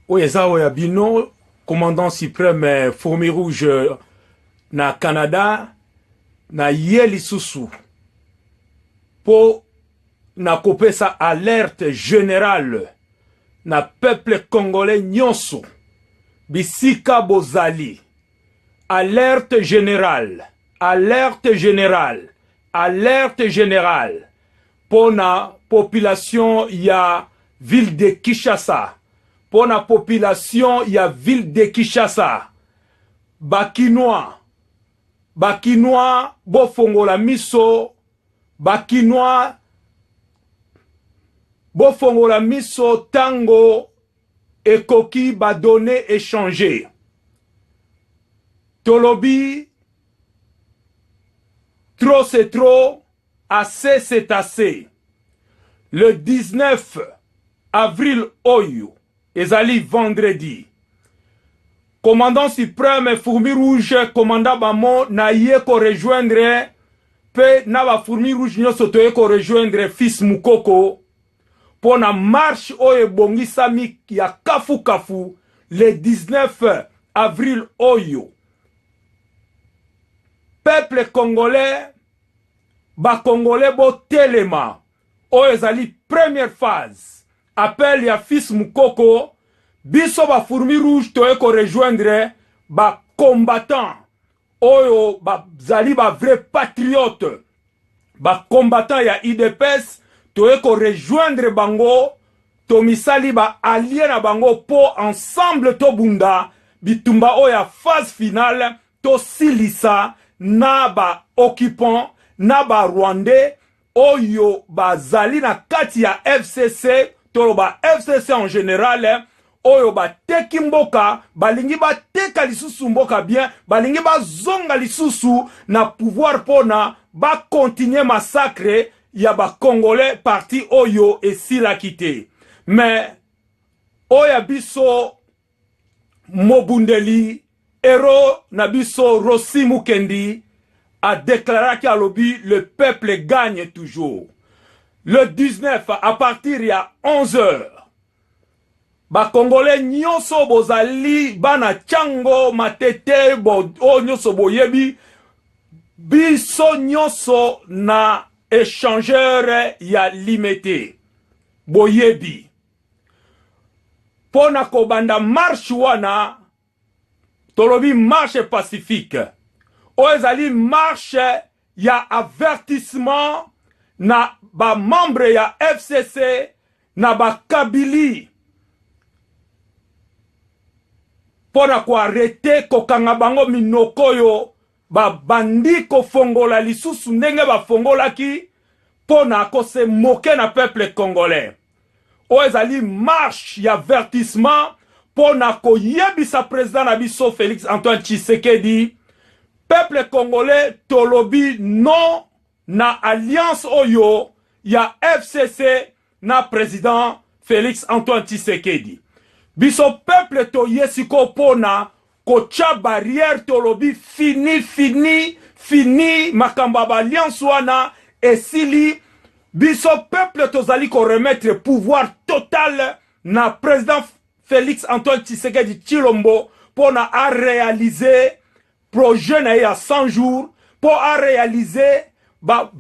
oyo eza oyo ya bino commandant supreme eh, fourmi rouge eh, na canada na ye lisusu mpo na kopesa alerte generale na peuple congolais nyonso bisika bozali alerte generale alerte generale alerte generale pona population ya ville de Kinshasa pona population ya ville de Kinshasa ba kinois ba kinois bofongola miso ba kinois bofongola miso tango ekoki ba données échangées tolobi trop c'est trop Assez c'est assez! Le 19 avril oyo, ezali vendredi, Commandant supreme Fourmis Rouge, Commandant Bamo, naye ko rejoindre mpe na ba Fourmis Rouge nionso toye ko rejoindre Fils Mukoko mpo na marche oyo ebongisami ya kafu kafu le 19 avril oyo. Peuple congolais Ba congolais bo telema oyo ezali première phase appel ya fils mukoko biso ba fourmis rouge toye ko rejoindre ba combattants oyo ba zali ba vrai patriote ba combattants ya udps toye ko rejoindre bango tomisali ba allier na bango po ensemble tobunda bitumba oyo ya phase finale Tosilisa na ba occupants na ba rwandais oyo bazali na kati ya FCC, toloba FCC en general, oyo bateki mboka, balingi bateka lisusu mboka bien, balingi bazonga lisusu na pouvoir pona ba continuer massacre ya ba congolais partie oyo esilaki te. Mais oyo ya biso Mobundeli hero na biso Rossy Mukendi a declaraki alobi le peuple gagne toujours. Le 19 à partir ya 11 heures ba congolais nyoso bozali bana Tshango, Matete, bo oyo nyoso boyebi biso nyoso na echangeur ya Limete boyebi. pona kobanda marche wana tolobi marche pacifique oyo ezali marche ya avertissement na ba membre ya FCC na ba kabili pona ko arrete kokanga bango minoko oyo babandi kofongola lisusu ndenge bafongolaki pona kose moke na peuple congolais Oyo ezali marche ya avertissement mpo na koyebisa president na biso Felix Antoine Tshisekedi, peuple congolais tolobi non na alliance oyo ya FCC na president Felix Antoine Tshisekedi. Biso peuple toye siko mpo na Kotya barrière tolobi fini fini fini makambo ya ba alliance wana esili biso peuple tozali ko remettre pouvoir total na president Felix Antoine Tshisekedi Tshilombo pona a realiser projet na ye ya 100 jours po a realiser ba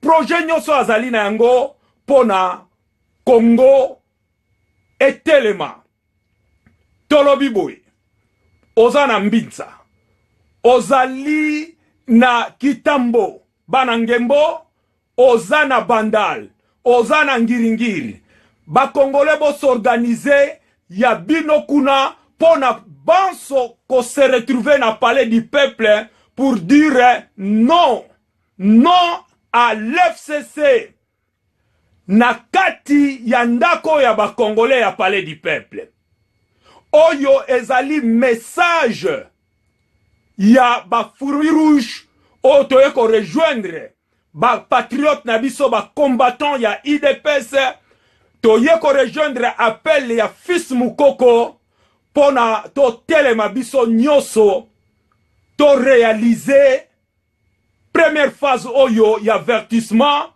projet nionso azali na yango pona Congo etelema. Tolobi boye, oza na mbinza, ozali na kitambo, bana ngembo, oza na bandal, oza na ngiringiri, ba congolais bo s'organiser ya bino kuna mpo na banso ko se retrouver na palais du peuple pour dire non, non à l'FCC. Na kati ya ndako ya ba congolais ya palais du peuple, oyo ezali message ya ba fourmis rouges oyo toye ko rejoindre ba patriotes na biso ba combattants ya udps, toye ko rejoindre appel ya fils Mukoko pona to telema biso nioso to realiser Première phase oyo y'avertissement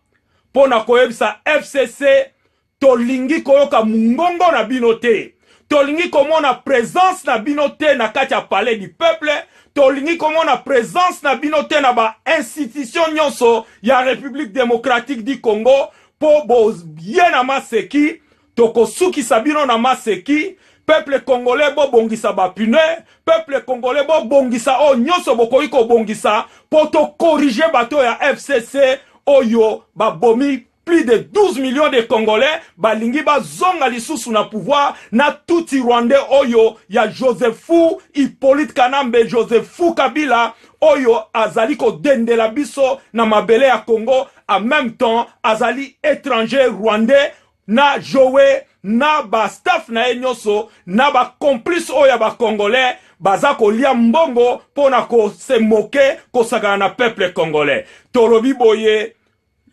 pona koyebisa FCC tolingi koyoka mungongo na bino te, tolingi komona presence na bino te na kati ya palais du peuple, tolingi komona presence na bino te na ba institutions nionso ya Republique Democratique du Congo po boye na maseki Toko sukisa bino na maseki. Peuple congolais bo bongisa ba pune, peuple congolais bo bongisa oyo nyoso bokoki ko bongisa po to corriger bato ya FCC oyo ba bomi plus de 12 millions de congolais ba lingi ba zonga lisusu na pouvoir na tutsi rwandais oyo ya Josephu Hyppolite Kanambe Josephu Kabila oyo azali ko dendela biso na mabele ya Congo en meme temps azali etranger rwandais na Joe na ba staff na ye nyoso na ba complice oyo ya ba congolais baza kolia mbongo pona ko se moke kosakana na peuple congolais tolobi boye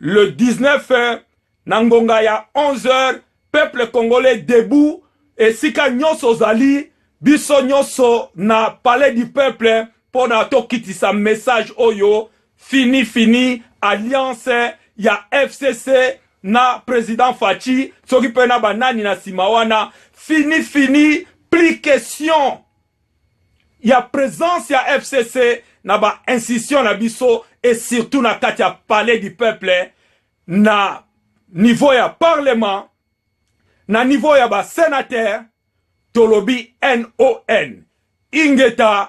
le 19 na ngonga ya 11 heures peuple congolais debout esika nyoso ozali biso nyoso na palais du peuple pona tokitisa message oyo Fini fini alliance ya FCC na president Fatshi soki pe na ba nani na sima wana fini fini plus question ya presence ya FCC na ba institutions na biso et surtout na kati ya palais du peuple na niveau ya parlement na niveau ya ba senateurs tolobi NON ingeta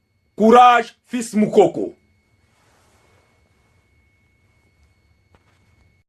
Courage fils Mukoko.